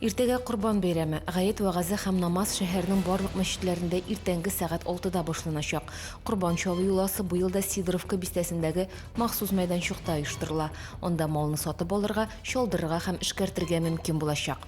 Иртәгә Корбан бәйрәме. Гает вәгазе һәм намаз шәһәрнең барлык мәчетләрендә иртәнге сәгать 6да башланачак. Корбан чалу йоласы быел да Сидоровка бистәсендәге махсус мәйданчыкта оештырыла. Анда малны сатып алырга, чалдырырга һәм эшкәртергә мөмкин булачак.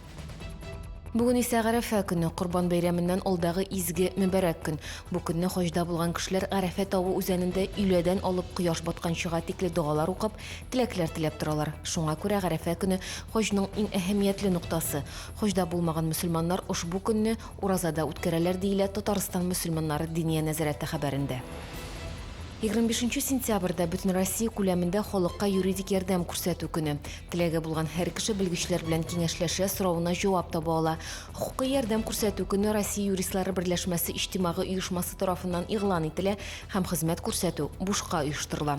Бүген исә Гарәфә көне, Корбан бәйрәменнән алдагы изге, мөбарәк көн. Бу көнне хаҗда булган кешеләр Гарәфә тавы үзәнендә өйләдән алып кояш батканчыга тикле догалар укып, Теләкләр теләп торалар. Шуңа күрә Гарәфә көне хаҗның иң әһәмиятле ноктасы. Хаҗда булмаган мөселманнар ошбу көнне уразада үткәрәләр, диелә Татарстан мөселманнары Диния нәзарәте хәбәрендә. Егерме бишенче сентябрьдә бөтенроссия күләмендә халыкка юридик ярдәм күрсәтү көне. Теләге булган һәр кеше белгечләр белән киңәшләшә, соравына җавап таба ала. Хокукый ярдәм күрсәтү көне Россия юристлары берләшмәсе иҗтимагый оешмасы тарафыннан игълан ителә һәм хезмәт күрсәтү бушка оештырыла.